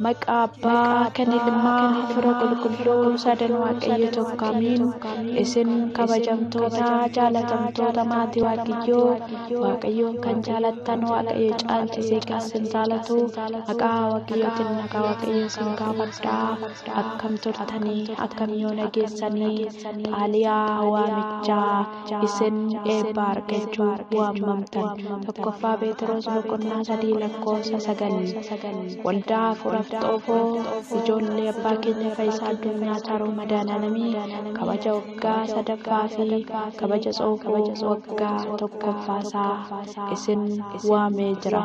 Maqaa abbaa kan ilmaa fira qulqulluu sadan waaqayyo tokko amiin isin kabajamtoota jaalatamtoota maatii waaqayyoo waaqayyoon kan jaalattan waaqayyo caalchisee kan isin jaalatu maqaa waaqayyootiin nagaa waaqayyo isin gaafadhaa akkam turtanii akkam yoo nageessanii xaaliyaa waamichaa isin eebba argachuu waammamtan. Tokkoffaa Pheexiroos boqonnaa sadii lakkoofsa sagal. Waldaa hafuuraaf xoofoo ijoollee abbaa keenya fayyisaa addunyaa taaroo madaananamii kabaja waggaa sadaffaa fi kabaja xoofoo waggaa tokkoffaasaa isin waamee jira.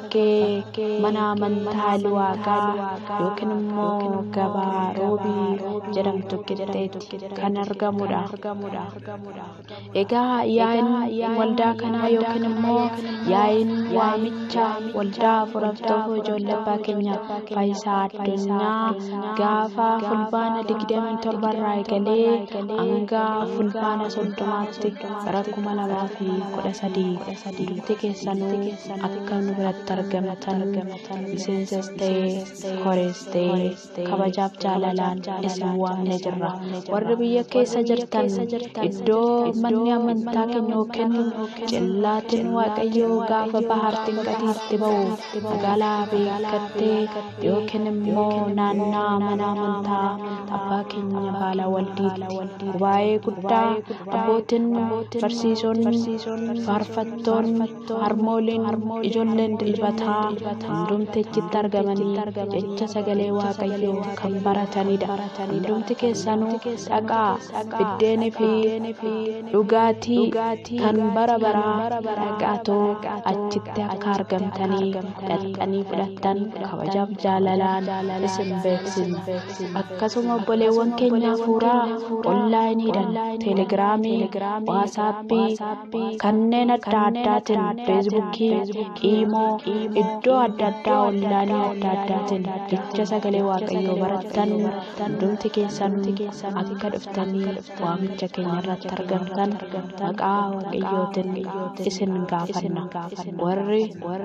bakkee mana amantaa Luwaaqaa yookiin immoo gabaa Roobii jedhamtu qixxeetti kan argamudha. Egaa yaa'iin waldaa kanaa yookiin immoo yaa'iin waamicha waldaa afuraftoo ijoollee abbaa keenya faayisaa addunyaa gaafa fulbaana 27 irraa eegalee hanga fulbaana 30tti bara 2013 duuti keessanuu Ati kan nu biratti argamatan miseensas ta'ee horees ta'ee kabajaaf jaalalaan isin waamne jirra. Warri biyya keessa jirtan iddoo manni amantaa keenya yookiin cillaatiin Waaqayyoo gaafa bahar xinqatiitti ba'u magaalaa beekattee yookiin immoo naannaa mana amantaa abbaa keenya baala waldiitti gubaa'ee guddaa abbootiin barsiisonni faarfattoonni harmooliin ijoolleen dilbataa hundumti achitti argamanii jecha sagalee waaqayyoo kan baratanidha hundumti keessanuu dhaqaa biddeenii fi dhugaatii kan bara baraa dhaqaatoo achitti akka argamtanii dhaqxanii fudhattan kabajaaf jaalalaan isin beeksisna akkasuma obboleewwan keenya hafuuraa onlaayiniidhaan teelegiraamii waasaappii kanneen adda addaatiin feesbuukii iimoo iddoo adda addaa onlaanii adda addaatiin jecha sagalee waaqayyoo barattan hundumti keessan akka dhuftanii waamicha keenya irratti argamtan maqaa waaqayyootiin isin gaafanna warri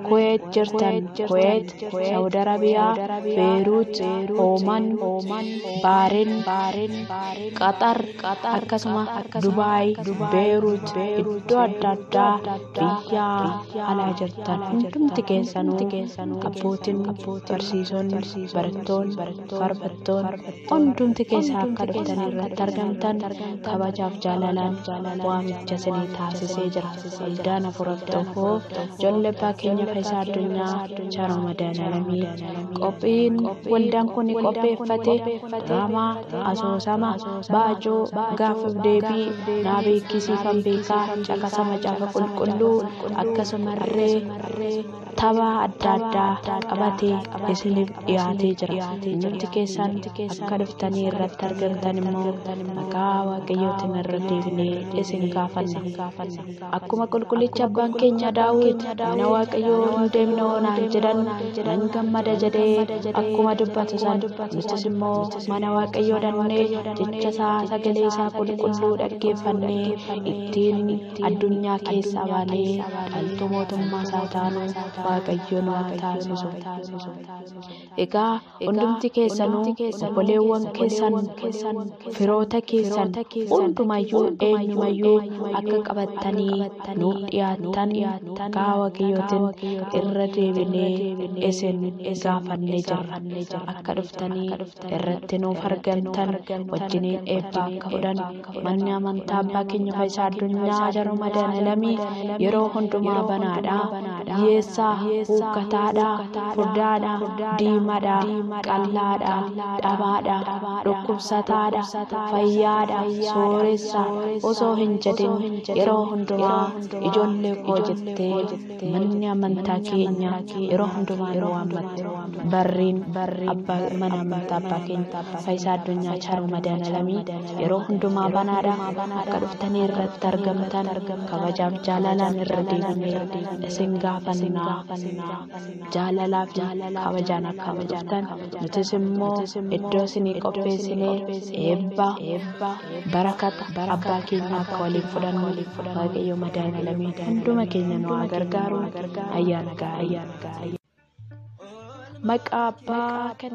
kuweet jirtan kuweet Saudi Arabia, Beirut, Oman, Bahrain, Qatar, akkasuma Dubai, Beirut, iddoo adda addaa biyya alaa jirtan hundumti keessanuu abbootiin barsiisonni barattoonni farfattoonni hundumti keessaa akka dhuftan irratti argamtan kabajaaf jaalalaan waamicha isinii taasisee jira. Soldaan Afuraf Tokkoo Jolle Abbaa Keenya Fayisaa Addunyaa Chara Madaalamii Qophiin waldaan kun qopheeffate diraamaa asoosama baajoo gaaffif deebii naa beekisiifan beekaa caqasa macaafa qulqulluu akkasumarree Tapha adda addaa qabatee isiniif dhiyaatee jira. Hundumti keessan akka dhuftanii irratti argamtan immoo maqaa Waaqayyootiin irra deebinee isin gaafanna. Akkuma qulqullichi abbaan keenya Daawit mana Waaqayyoo hin deemne oonaan jedhan nan gammada jedhee akkuma dubbatu san nutis immoo mana Waaqayyoo dhannee jecha isaa sagalee isaa qulqulluu dhaggeeffannee ittiin addunyaa keessaa baanee dhaltuu mootummaa isaa taanu Waaqayyoon waa taasisu. Egaa hundumti keessanuu obboleewwan keessan firoota keessan hundumayyuu eenyumayyuu akka qabattanii nuuf dhiyaattan gaa Waaqayyootiin irra deebinee isin gaafannee jirra. Akka dhuftanii irratti nuuf argamtan wajjiniin eebba akka fudhan Manni amantaa abbaa keenya fayyisaa addunyaa jaruu madaalamii yeroo hundumaa banaadha. Yeessaa, huukkataadha, furdaadha, diimadha, qallaadha, dhabaadha, dhukkubsataadha, fayyaadha, sooressa osoo hin jedhin yeroo hundumaa ijoollee koo jettee manni amantaa keenya yeroo hundumaa nu waammatti barriin abbaa mana amantaa abbaa keenya faayisaa addunyaa chaaruu madaalamii yeroo hundumaa banaadha akka dhuftanii irratti argamtan kabajaaf jaalalaan irra deebinee isin gaafannaa. Jaalalaa fi kabajaan akka nu dhuftan nutis immoo iddoo isinii qopheessinee eebba barakata abbaa keenya akka waliin fudhannu waaqayyo madaan alamii hunduma keenya nu haa gargaaru ayyaana gaarii. Maqaa abbaa kan